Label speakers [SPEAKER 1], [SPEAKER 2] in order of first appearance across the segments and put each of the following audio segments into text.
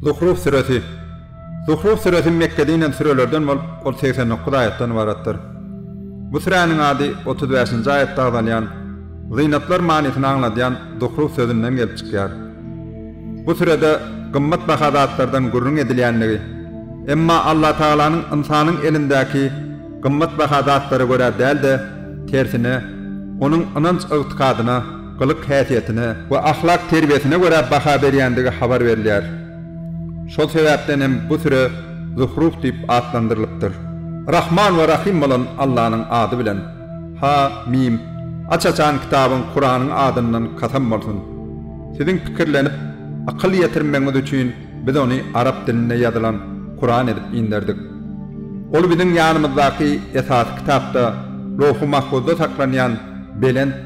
[SPEAKER 1] Zuhruf süresi Zuhruf süresi Mekgede inen sürelerden bolup, ol segsen dokuz aýatdan ybaratdyr. Bu süräniň ady otuz bäşinji aýatda agzalýan Zynatlar manysyny aňladýan Zuhruf sözünden gelip çykýar. Bu sürede gymmatbaha zatlardan gürrüň edilýändigi, emma Allatagalanyň ynsanyň elindäki gymmatbaha zatlara görä däl-de, tersine, onuň ynanç-ygtykadyna, gylyk häsiýetine we ahlak terbiýesine görä baha berýändigi habar berilýär. Şol sebäpden hem bu süre Zuhruh diýip atlandyrylypdyr. Rahman we Rahym bolan Allanyň ady bilen. Ha, mim. Aç açan kitabyň Kuranyň adyndan kasam bolsun! Siziň pikirlenip, akyl ýetirmegiňiz üçin biz ony arap dilinde ýazylan Kuran edip inderdik. Ol biziň ýanymyzdaky esasy kitapda, Lowhy-Mahfuzda saklanýan belent,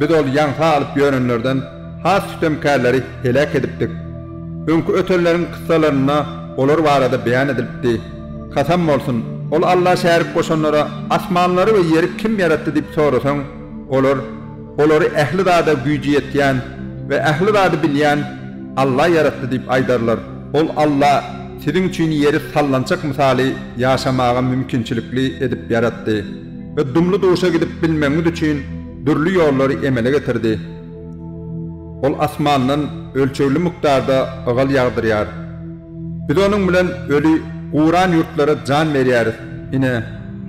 [SPEAKER 1] Biz ol ýaňsa alyp ýörenlerden has sütemkärleri heläk edipdik. Öňki ötenleriň kyssalarynda olar barada beýan edilipdi. Kasam bolsun, ol Alla şärik goşanlara asmanlary we ýeri kim ýaratdy diýip sorasaň, olar, Olary ähli zada güýji ýetýän we ähli zady bilýän Alla ýaratdy diýip aýdarlar. Ol Alla siziň üçin ýeri sallançak mysaly ýaşamaga mümkinçilikli edip ýaratdy. we dumly duşa gidip bilmegiňiz üçin dürli ýollary emele getirdi. Ol asmandan ölçegli mukdarda ygal ýagdyrýar. Biz onuň bilen öli, guran ýurtlara jan berýäris. Ine,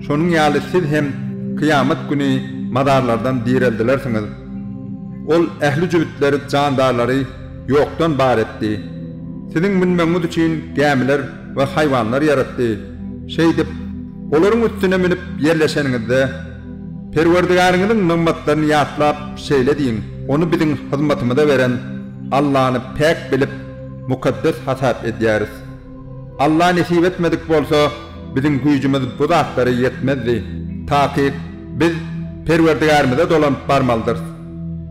[SPEAKER 1] şonuň ýaly siz hem kyýamat güni mazarlardan direldilersiňiz. Ol ähli jübütleri, jandarlary ýokdan bar etdi. Siziň münmegiňiz üçin gämiler we haýwanlar ýaratdy. Şeýdip, olaryň üstüne münüp ýerleşeniňizde, Perwerdigäriňiziň nygmatlaryny ýatlap, şeýle diýiň, Ony biziň hyzmatymyza beren Allany päk bilip, mukaddes hasap edýäris. Alla nesip etmedik bolsa, biziň güýjümiz bu zatlara ýetmezdi. Takyk, biz Perwerdigärimize dolanyp barmalydyrys.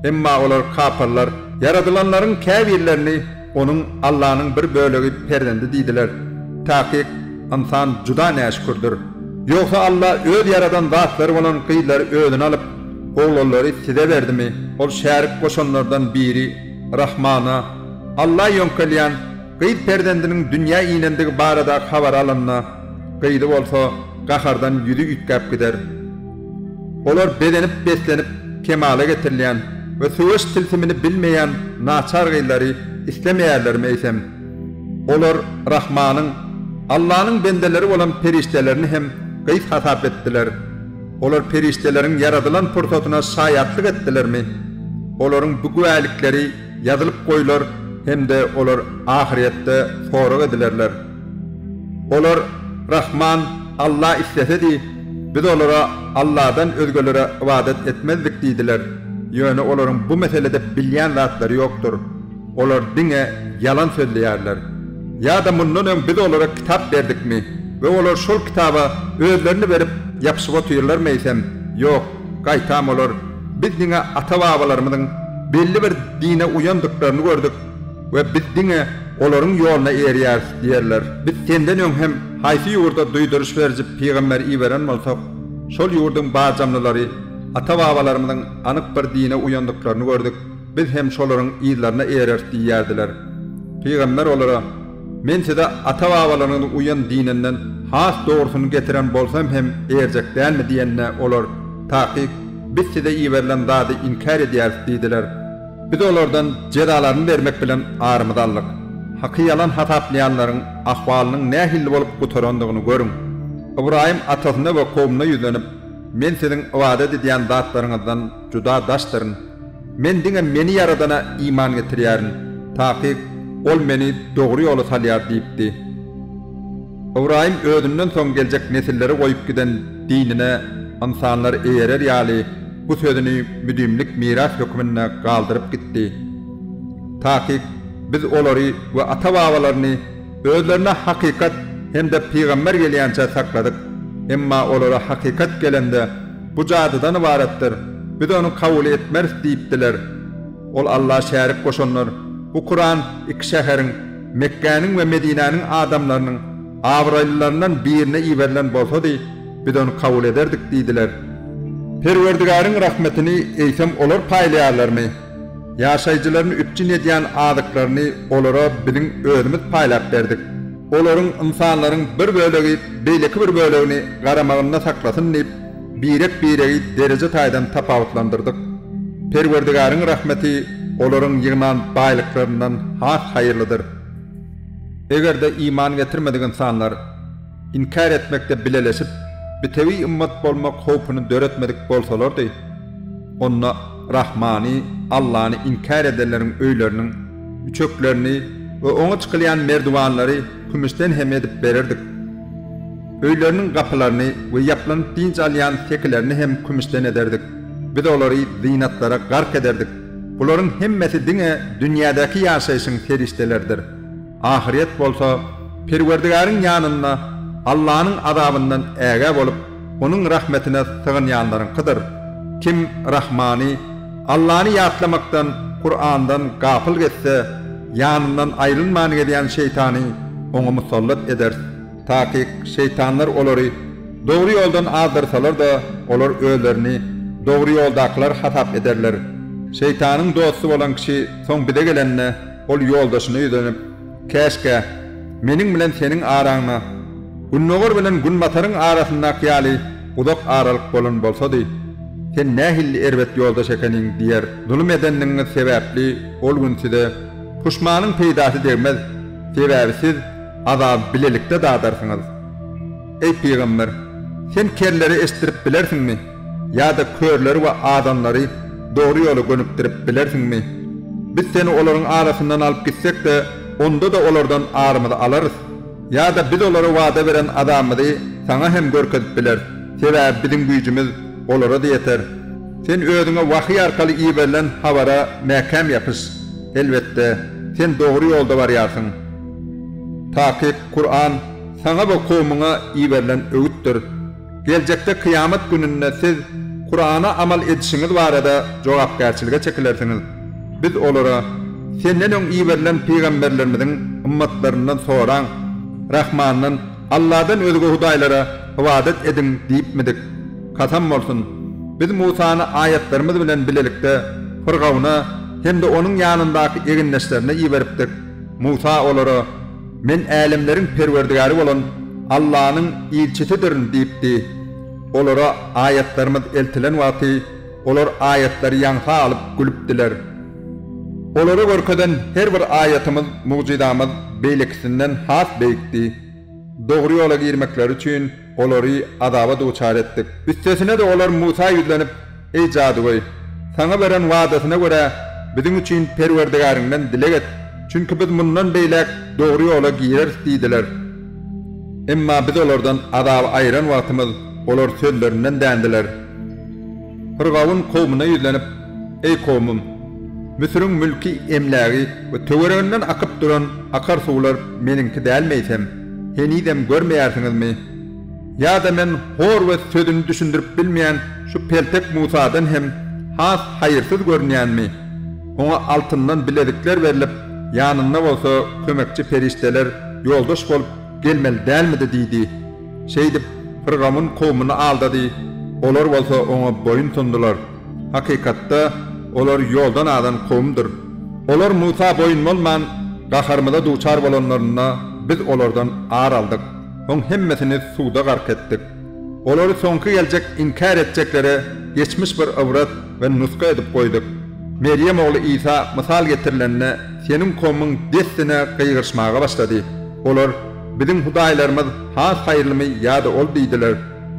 [SPEAKER 1] Emma olar kapyrlar. Ýaradylanlaryň käbirlerini Onuň Allanyň bir bölegi perzendi diýdiler. Takyk, ynsan juda näşükürdir. Ýogsa Alla Öz ýaradan zatlary bolan gyzlary Özüne alyp, oglanlary size berdimi? Ol şärik goşanlardan biri Rahmana, Alla ýöňkelýän, gyz perzendiniň dünýä inendigi barada habary alanda, gyzy bolsa gahardan ýüzi üýtgäp gider. Olar bezenip-beslenip kemala getirilýän we söweş tilsimini bilmeýän naçar gyzlary islemeýärlermi eýsem? Olar Rahmanyň, Allanyň bendeleri bolan perişdelerini hem gyz hasap etdiler. Olar perişdeleriň ýaradylan pursatyna şaýatlyk etdilermi? Olaryň bu güwälikleri ýazylyp goýlar hem-de olar ahyrýetde sorag edilerler. Olar, Rahman Alla islesedi, biz olara Alladan özgelere ybadat etmezdik diýdiler. Ýöne olaryň bu meselede bilýän zatlary ýokdur. Olar diňe ýalan sözleýärler. Ýa-da mundan öň biz olara kitap berdikmi we olar şol kitaba özlerini berip ýapyşyp otyrlarmy eýsem? Ýok, gaýtam olar, Biz diňe ata-babalarymyzyň belli bir dine uýandyklaryny gördük. we biz diňe olaryň ýoluna eýerýäris diýerler. Biz senden öň hem haýsy ýurda duýduryş beriji pygamber iberen bolsak, şol ýurduň bajamlylary ata-babalarymyzyň anyk bir dine uýandyklaryny gördük, biz hem şolaryň yzlaryna eýereris diýýärdiler. Pygamber olara, Men size ata-babalaryňyz uýan dininden has dogrusyny getiren bolsam hem eýerjek dälmi diýende, olar, Takyk, biz size iberilen zady inkär edýäris diýdiler. Biz olardan jezalaryny bermek bilen arymyzy aldyk. Haky ýalan hasaplaýanlaryň ahwalynyň nähilli bolup gutarandygyny görüň. Ybraýym atasyna we kowmuna ýüzlenip, Men siziň ybadat edýän zatlaryňyzdan juda daşdyryn. Men diňe meni Ýaradana iman getirýärin, takyk Ol meni dogry ýola salýar diýipdi. Ybraýym özünden soň geljek nesilleri goýup giden dinine ynsanlar eýerer ýaly bu sözüni müdimlik miras hökmünde galdyryp gitdi. Takyk biz olary we ata-babalaryny özlerine hakykat hem-de pygamber gelýänçä sakladyk, emma olara hakykat gelende, Bu jadydan ybaratdyr, biz ony kabul etmeris diýipdiler. Ol Alla şärik goşanlar, bu Kuran iki şäheriň, Mekgäniň we Medinäniň adamlarynyň abraýlylaryndan birine iberilen bolsady, biz ony kabul ederdik diýdiler. Perwerdigäriň rahmetini eýsem olar paýlaýarlarmy? Ýaşaýjylaryny üpjün edýän azyklaryny olara biziň özümiz paýlap berdik. Olaryň, ynsanlaryň, bir bölegi beýleki bir bölegini garamagynda saklasyn diýip, Birek-biregi dereje taýdan tapawutlandyrdyk. Perwerdigaryň rahmeti olaryň ýygnan baýlyklaryndan has haýyrlydyr. Eger-de iman getirmedik ynsanlar inkär etmekde bileleşip, bitewi ymmat bolmak howpuny döretmedik bolsalardy, onda Rahmany, Allany, inkär edenleriň öýleriniň üçeklerini we oňa çykylýan merdiwanlary kümüşden hem edip bererdik. Öýleriniň gapylaryny we ýaplanyp dynç alýan sekilerini hem kümüşden ederdik. Biz olary zynatlara gark ederdik. Bularyň hemmesi diňe dünýädäki ýaşaýşyň serişdeleridir. Ahyret bolsa, Perwerdigäriň ýanynda Allanyň azabyndan ägä bolup, Onuň rahmetine sygynýanlaryňkydyr. Kim Rahmany, Allany ýatlamakdan, Kurandan, gapyl gezse, ýanyndan aýrylman gezýän şeýtany oňa musallat ederis. Takyk, şeýtanlar olary dogry ýoldan azdyrsalar-da, olar özlerini dogry ýoldakylar hasap ederler. Şeýtanyň dosty bolan kişi soň bize gelende, ol ýoldaşyna ýüzlenip, Käşgä, meniň bilen seniň araňda Gündogar bilen Günbataryň arasyndaky ýaly uzak aralyk bolan bolsady! Sen nähilli erbet ýoldaş ekeniň! diýer. Zulum edenligiňiz sebäpli ol gün size puşmanyň peýdasy degmez, sebäbi siz, azaby bilelikde dadarsyňyz. Eý, pygamber, sen kerleri eşitdirip bilersiňmi ýa-da körleri we azanlary dogry ýola gönükdirip bilersiňmi? Biz seni olaryň arasyndan alyp gitsek-de, onda-da olardan arymyzy alarys. Ýa-da biz olara wada beren azabymyzy saňa hem görkezip bileris, sebäbi biziň güýjümiz olara-da ýeter. Sen özüňe wahyý arkaly iberilen habara mäkäm ýapyş. Elbetde, sen dogry ýolda barýarsyň. Takyk, Kuran, saňa we kowmuňa iberilen öwütdir. Geljekde Kyýamat gününde siz Kurana amal edişiňiz barada jogapkärçilige çekilersiňiz. Biz olara, Senden öň iberilen pygamberlerimiziň ymmatlaryndan soraň, Rahmandan, Alladan özge hudaýlara ybadat ediň diýipmidik? Kasam bolsun! Biz Musany aýatlarymyz bilen bilelikde Pyrgawna hem-de onuň ýanyndaky egindeşlerine iberipdik. Musa olara, Men älemleriň Perwerdigäri bolan Allanyň ilçisidirin diýipdi. Olara aýatlarymyz eltilen wagty, olar aýatlary ýaňsa alyp gülüpdiler. Olara görkezen her bir aýatymyz, mugjyzamyz beýlekisinden has beýikdi. Dogry ýola girmekleri üçin, Olary azaba duçar etdik. Üstesine-de olar Musa ýüzlenip, Eý jadygöý! Saňa beren wadasyna görä, biziň üçin Perwerdigäriňden dileg et, çünki biz mundan beýläk dogry ýola gireris diýdiler. Emma biz olardan azaby aýyran wagtymyz, olar sözlerinden dändiler. Fyrgawun kowmuna ýüzlenip, Eý kowmum! Müsüriň mülki, emlägi we töwereginden akyp duran akar suwlar meniňki dälmi eýsem? henizem görmeýärsiňizmi? Ýa-da men hor we sözüni düşündirip bilmeýän şu peltek Musadan hem has haýyrsyz görünýänmi? Oňa altyndan bilezikler berlip, ýanynda bolsa kömekçi perişdeler ýoldaş bolup gelmeli dälmidi? diýdi. Şeýdip, pyrgawun kowmuny aldady, olar bolsa oňa boýun sundular. Hakykatda, olar ýoldan azan kowumdyr. Olar Musa boýun bolman, gaharymyza duçar bolanlarynda, biz olardan ar aldyk, soň hemmesini suwda gark etdik. Olary soňky geljek inkär etjeklere geçmiş bir ybrat we nusga edip goýduk. Merýem ogly Isa mysal getirilende, seniň kowumyň dessine gygyryşmaga başlady. Olar, Biziň hudaýlarymyz has haýyrlymy ýa-da ol diýdiler.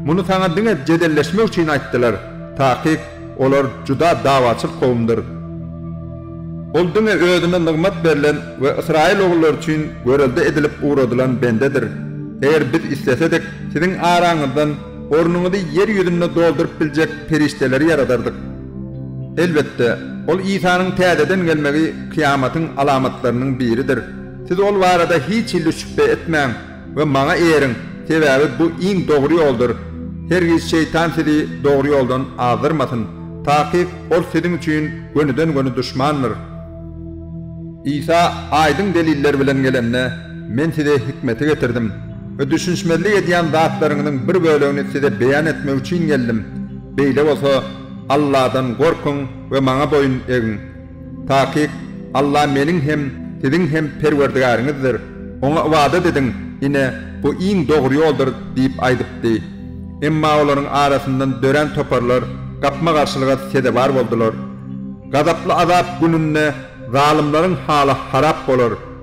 [SPEAKER 1] Muny saňa diňe jedelleşmek üçin aýtdylar. Takyk, olar juda dawaçyl kowumdyr. Ol diňe özüne nygmat berlen we ysraýyl ogullary üçin görelde edilip ugradylan bendedir. Eger biz islesedik, siziň araňyzdan ornuňyzy ýer ýüzünde dolduryp biljek perişdeleri ýaradardyk. Elbetde, ol Isanyň täzeden gelmegi kyýamatyň alamatlarynyň biridir. Siz ol barada hiç hili şübhe etmäň. we Maňa eýeriň, sebäbi bu iň dogry ýoldur. Hergiz şeýtan sizi dogry ýoldan azdyrmasyn. Takyk, ol siziň üçin gönüden-göni duşmandyr. Isa aýdyň deliller bilen gelende, Men size hikmeti getirdim we düşünişmezlik edýän zatlaryňyzyň bir bölegini size beýan etmek üçin geldim. Beýle bolsa, Alladan gorkuň we Maňa boýun egiň. Takyk, Alla meniň hem, siziň hem Perwerdigäriňizdir. Oňa ybadat ediň, ine, bu iň dogry ýoldur diýip aýdypdy. Emma olaryň arasyndan dörän toparlar gapma-garşylyga sezewar boldular. Gazaply azap gününde zalymlaryň haly harap bolar.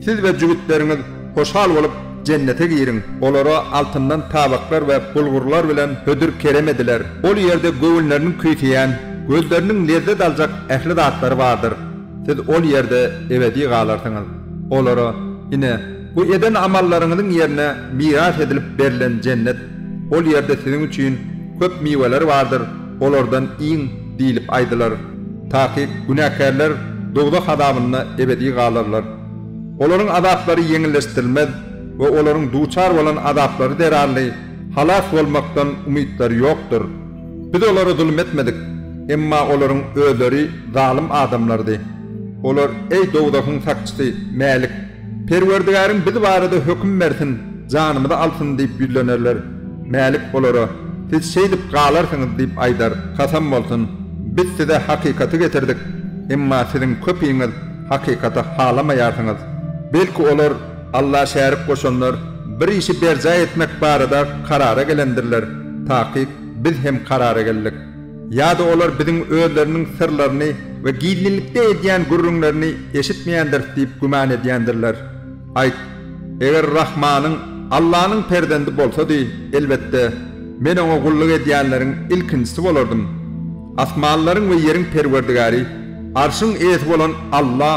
[SPEAKER 1] Siz we jübütleriňiz hoşal bolup, Jennete giriň. Olara altyndan tabaklar we bulgurlar bilen hödür kerem ediler. Ol ýerde göwünleriniň küýseýän, gözleriniň lezzet aljak ähli zatlary bardyr. Siz ol ýerde ebedi galarsyňyz. Olara, Ine, bu eden amallaryňyzyň ýerine miras edilip berlen Jennet. Ol ýerde siziň üçin köp miweler bardyr. Olardan iň diýlip aýdylar. Takyk günäkärler dowzah azabynda ebedi galarlar. Olaryň azaplary ýeňilleşdirilmez we olaryň duçar bolan azaplary zerarly halas bolmakdan umytlary ýokdur. Biz olara zulum etmedik, emma olaryň özleri zalym adamlardy. Olar, Eý, dowzahyň sakçysy, Mälik! Perwerdigäriň biz barada höküm bersin, janymyzy alsyn diýip ýüzlenerler. Mälik olara, Siz şeýdip galarsyňyz diýip aýdar. Kasam bolsun, biz size hakykaty getirdik, emma siziň köpiňiz hakykaty halamaýarsyňyz. Belki olar, Alla şärik goşanlar, bir işi berjaý etmek barada karara gelendirler, takyk biz hem karara geldik. Ýa-da olar biziň özleriniň syrlaryny we gizlinlikde edýän gürrüňlerini eşitmeýändiris diýip güman edýändirler. Aýt, Eger Rahmanyň, Allanyň perzendi bolsady, elbetde, men Oňa gulluk edýänleriň ilkinjisi bolardym. Asmanlaryň we ýeriň Perwerdigäri, Arşyň Eýesi bolan Alla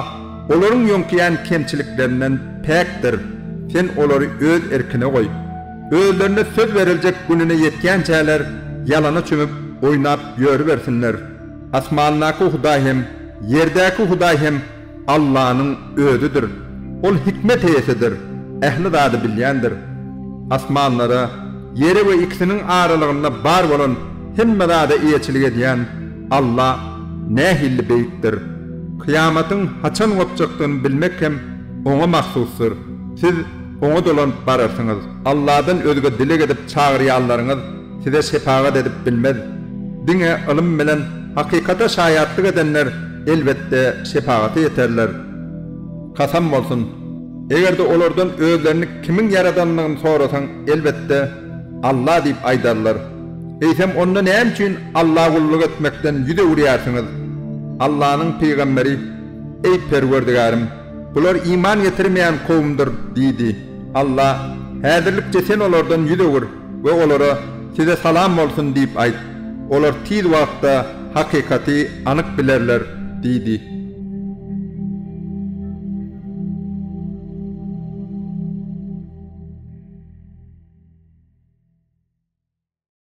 [SPEAKER 1] olaryň ýöňkeýän kemçiliklerinden päkdir, Sen olary öz erkine goý. Özlerine söz beriljek gününe ýetýänçäler ýalana çümüp, oýnap ýörübersinler. Asmandaky Hudaý hem, ýerdäki Hudaý hem Allanyň Özüdir. Ol hikmet eýesidir, ähli zady bilýändir. Asmanlara, ýere we ikisiniň aralygynda bar bolan hemme zada eýeçilik edýän Alla nähili beýikdir! Kyýamatyň haçan gopjakdygyny bilmek hem Oňa mahsusdyr. Siz Oňa dolanyp bararsyňyz. Alladan özge dileg edip çagyrýanlaryňyz size şepagat edip bilmez. Diňe ylym bilen hakykata şaýatlyk edenler elbetde, şepagata ýeterler. Kasam bolsun, eger-de olardan özlerini kimiň ýaradandygyny sorasaň, elbetde, Alla diýip aýdarlar. Eýsem, onda näme üçin Alla gulluk etmekden ýüz öwürýärsiňiz? Allanyň pygamberi, Eý, Perwerdigärim! Bular iman getirmeýän kowumdyr diýdi. Alla, Häzirlikçe sen olardan ýüz öwür. we olara Size salam bolsun diýip aýt. Olar tiz wagtda hakykaty anyk bilerler diýdi.